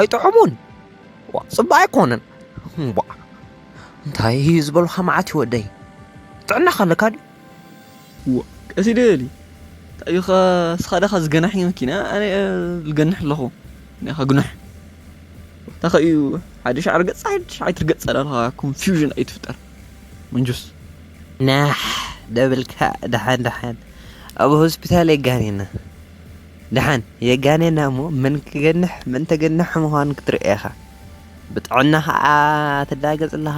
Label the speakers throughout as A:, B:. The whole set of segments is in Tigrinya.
A: ኣይጥዑሙን ዋእ ጽቡቅ ኣይኮነን ዋእ እንታይ እዩ ዝበልካ መዓት እዩ ወደይ ጥዕናኻ ኣለካ ድዩ ዋእ
B: ቀስ ይደሊ እንታይ እዩ ስኻ ዳኻ ዝገናሒ መኪና ኣነ ዝገንሕ ኣለኹ ናይ ከግኑሕ እታ ከእዩ ሓደ ሻዕሪ ገጽ ሓደ ሻዕሪ ትርገጽ ኣለኻ ኮንፊውዥን ኣይትፍጠር መንጁስ
A: ናሕ ደብልካ ደሓን ደሓን ኣብ ሆስፒታል የጋኒና ደሓን የጋንየና እሞ መን ክገንሕ መን ተገናሒ ምዃኑ ክትርእይ ኢኻ። ብጥዕና ከኣ ትላገጽ ኣለኻ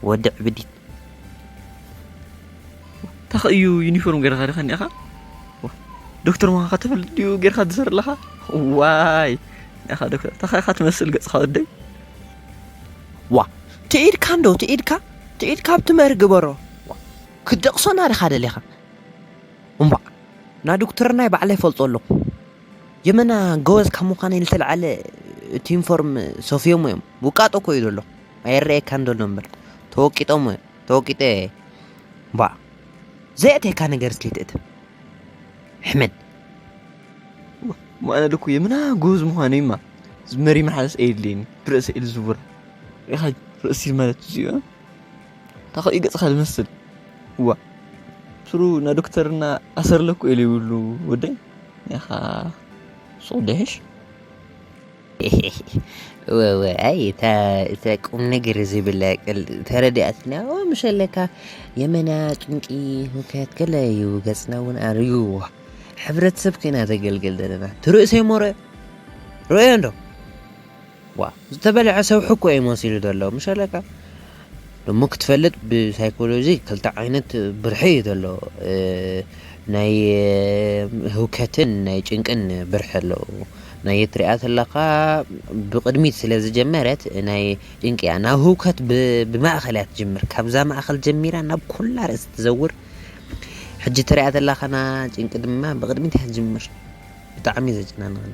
A: ወዲ ዕብዲት።
B: ታኽ እዩ ዩኒፎርም ገርካ ድካ ኒኣኻ ዶክተር ምዃንካ ተፈልጥ ድዩ ገርካ ትዘር ኣለኻ ዋይ ኒኣኻ ዶክተር ታኻ ኢኻ ትመስል ገጽካ ወደይ ዋ
A: ትኢድካ እንዶ ትኢድካ ትኢድካ ኣብቲ መሪ ግበሮ ክትደቕሶና ድኻ ደሊኻ እምቧእ ናዱክትርናይ ባዕለይ እፈልጦ ኣለኹ ጀመና ጎበዝ ካብ ምዃነይ ዝተልዓለ እቲ ዩኒፎርም ሰፍዮሞ እዮም ውቃጦ እኮ እዩ ዘሎ ኣይረኣየካን ዘሎ እምበር ተወቂጦሞ እዮም ተወቂጠ ባ ዘየእተካ ነገር እስከ ትእተ ሕመድ
B: ማነ ልኩ የምና ጎበዝ ምዃኑ እዩማ መሪ መሓለስ ኣየድልየኒ ብርእሲ ኢል ዝቡር ኢኻ ርእሲ ማለት እዚኦ ታኸኡ ይገጽኻ ዝመስል ዋ ስሩ ና ዶክተርና ኣሰርለኩ ኢሉ ይብሉ ወደይ ያኻ ሱቕ ደሽ
A: ወወ ኣይ እታ እታ ቁም ነገር ዝብላ ቅል ተረዲኣትና ኦ ምሸለካ የመና ጭንቂ ሁከት ገለ እዩ ገጽና እውን ኣርዩዎ ሕብረተሰብ ኮይና ዘገልግል ዘለና ትርእሰይ ሞረ ርእዮ እንዶ ዋእ ዝተበልዐ ሰብሒ እኮ እዩ መሲሉ ዘሎ ምሸለካ ደሞ ክትፈልጥ ብሳይኮሎጂ ክልተ ዓይነት ብርሒ እዩ ዘሎ ናይ ህውከትን ናይ ጭንቅን ብርሒ ኣሎ ናይ ትሪኣ ተለካ ብቅድሚት ስለ ዝጀመረት ናይ ጭንቂ እያ ናብ ህውከት ብማእኸል እያ ትጅምር ካብዛ ማእኸል ጀሚራ ናብ ኩላ ርእሲ ትዘውር ሕጂ ትሪኣ ተለካ ና ጭንቂ ድማ ብቅድሚት እያ ትጅምር ብጣዕሚ ዘጨናንቀኒ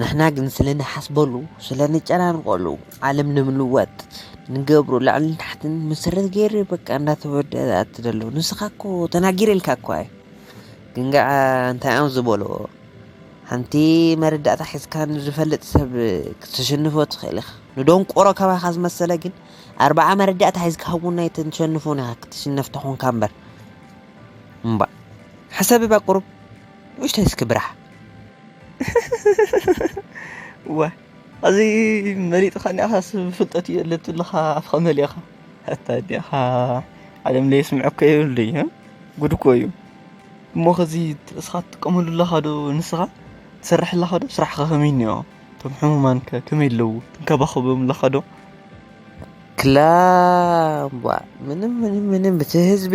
A: ንሕና ግን ስለ ንሓስበሉ ስለ ንጨናንቐሉ ዓለም ንምልዋጥ ንገብሮ ላዕልን ታሕትን መሰረት ገይሩ በቃ እንዳተወዳደኣት ዘሎ ንስኻ እኮ ተናጊረ ኢልካ እኳ እዩ ግን ከዓ እንታይ እዮም ዝበልዎ ሓንቲ መረዳእታ ሒዝካ ንዝፈልጥ ሰብ ክትሸንፎ ትኽእል ኢኻ ንደንቆሮ ከባኻ ዝመሰለ ግን ኣርባዓ መረዳእታ ሒዝካ እውን ኣይተሸንፎን ኢኻ ክትሽነፍ ተኾንካ እምበር እምባ ሕሰብባ ቁሩብ ንኡሽተይ እስኪ ብራሕ።
B: እወ ሐዚ መሊጥኻኒ ኢኻስ ብፍልጠት እዩ ኣለትልኻ ኣፍኻ መሊእኻ ኣታ ዲኻ ዓለም ለየስምዐካ የብሉ እዩ ጉድ እኮ እዩ እሞ ከዚ እስኻ ትጥቀመሉ ኣለኻ ዶ ንስኻ ትሰርሕ ኣለኻ ዶ ስራሕኻ ከመይ እኒኦ እቶም ሕሙማን ከ ከመይ ኣለዉ ትንከባኸቦም ኣለኻ ዶ ክላ
A: እምቧእ ምንም ምንም ምንም እቲ ህዝቢ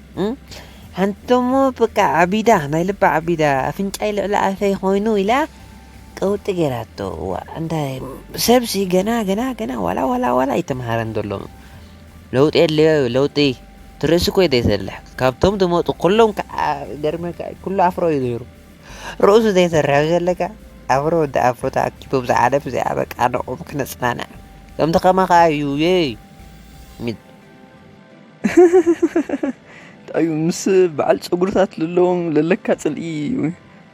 A: ሓንቲ'ሞ በቃ ዓቢዳ ናይ ልባ ዓቢዳ ኣፍንጫይ ልዕሊ ኣፈይ ኮይኑ ኢላ ቀውጢ ገይራቶ እዋእ እንታይ ሰብሲ ገና ገና ገና ዋላ ዋላ ዋላ ኣይተምሃረን ዘሎ ለውጢ የድልዮ እዩ ለውጢ እቲ ርእሲ እኮ እዩ ዘይሰርሕ ካብቶም ዝመፁ ኩሎም ከዓ ገርመካ ኩሉ ኣፍሮ እዩ ነይሩ ርእሱ ዘይሰርሕ ዘለካ ኣፍሮ ወዲ ኣፍሮ ተኣኪቦም ዝዓለፍ እዚኣ በቃ ንዕኦም ክነፅናንዕ ከምቲ ከማኻ እዩ የይ
B: እንታይ እዩ ምስ በዓል ፀጉርታት ዘለዎም ዘለካ ፅልኢ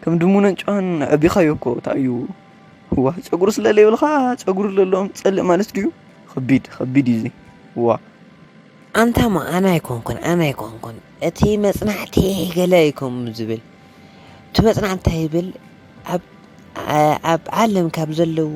B: ከም ድሙነን ጨዋን ኣዕቢኻዮ እኮ እንታይ እዩ ዋ ፀጉሪ ስለ ዘይብልካ ፀጉሪ ዘለዎም ትፀልእ ማለት ድዩ ከቢድ ከቢድ እዩ እዚ ዋ ኣንታ
A: እሞ ኣነ ኣይኮንኩን ኣነ ኣይኮንኩን እቲ መፅናዕቲ ገለ እዩ ከምኡ ዝብል እቲ መፅናዕቲ እንታይ ይብል ኣብ ኣብ ዓለም ካብ ዘለዉ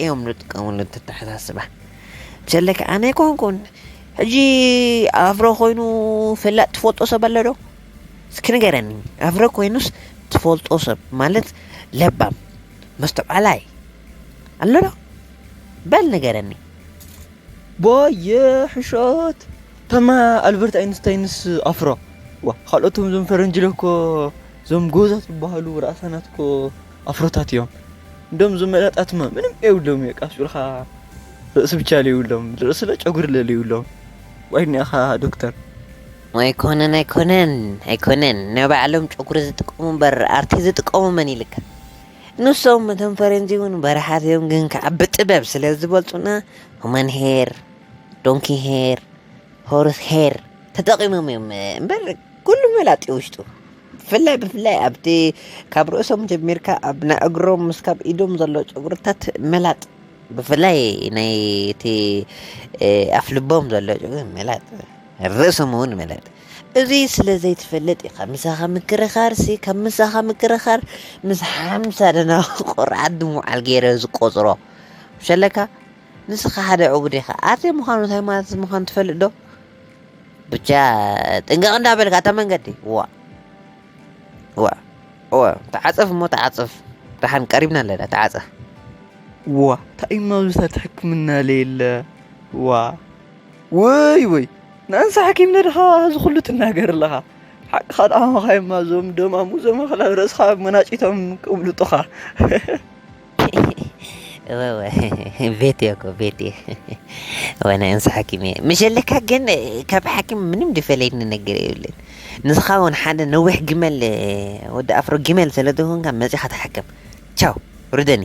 A: እዮም ዝጥቀምሉ እቲ ኣተሓሳስባ ብሰለኪ ኣነ ኣይኮንኩን ሕጂ ኣፍሮ ኮይኑ ፈላጥ ትፈልጦ ሰብ ኣሎ ዶ እስኪ ንገረኒ ኣፍሮ ኮይኑስ ትፈልጦ ሰብ ማለት ለባም መስተውዓላይ ኣሎ ዶ በል ንገረኒ ቦየ
B: ሕሾት ተማ ኣልበርት ኣይንስታይንስ ኣፍሮ ዋ ካልኦቶም ዞም ፈረንጅለ እኮ ዞም ጎዛት ዝበሃሉ ርኣሳናት እኮ ኣፍሮታት እዮም እንደም ዞም መላጣትማ ምንም የብሎም እዩ ቃስ ብልካ ርእሲ ብቻ ለይብሎም ርእሲ ለጨጉሪ ለለይብሎም ዋይ ኒኣኻ ዶክተር ኣይኮነን ኣይኮነን
A: ኣይኮነን ንባዕሎም ጨጉሪ ዝጥቀሙ እምበር ኣርቲ ዝጥቀሙ መን ኢልካ ንሶም እቶም ፈረንጂ እውን በረሓት እዮም ግን ከዓ ብጥበብ ስለ ዝበልፁና ሁመን ሄር ዶንኪ ሄር ሆርስ ሄር ተጠቂሞም እዮም እምበር ኩሉ መላጥ እዩ ውሽጡ ብፍላይ ብፍላይ ኣብቲ ካብ ርእሶም ጀሚርካ ኣብ ናይ እግሮም ምስ ካብ ኢዶም ዘሎ ጨጉርታት መላጥ ብፍላይ ናይ እቲ ኣፍ ልቦም ዘሎ ጨጉሪ መላጥ ርእሶም እውን መላጥ እዚ ስለ ዘይትፈልጥ ኢኻ ምሳኻ ምክርኻርሲ ካብ ምሳኻ ምክርኻር ምስ ሓምሳ ደና ቆርዓት ድሙዓል ገይረ ዝቆፅሮ ሸለካ ንስኻ ሓደ ዕቡድ ኢኻ ኣርቴ ምዃኑ ሃይማኖት ምዃኑ ትፈልጥ ዶ ብቻ ጥንቀቕ እንዳበልካ እታ መንገዲ ዋ ዋ ዋ ተዓፀፍ እሞ ተዓፀፍ ደሓን ቀሪብና ኣለና ተዓፀፍ ዋ
B: እንታይ እሞ ኣብዚታት ሕክምና ለየለ ዋ ወይ ወይ ንእንሳ ሓኪም ነድኻ እዚ ኩሉ ትናገር ኣለኻ ሓቅኻ ድኣማኻዮማ እዞም ደማሙ እዞም ኣኽላብ ርእስኻ መናጭቶም ቅብልጡኻ
A: ቤት እየ እኮ ቤት እየ ወነ እንስ ሓኪም እየ ምሸለካ ግን ካብ ሓኪም ምንም ድፈለየኒ ነገር የብልን ንስኻ እውን ሓደ ነዊሕ ግመል ወዲ ኣፍሮ ግመል ስለ ዝኾንካ መፂኻ ተሓከም ቻው ርደኒ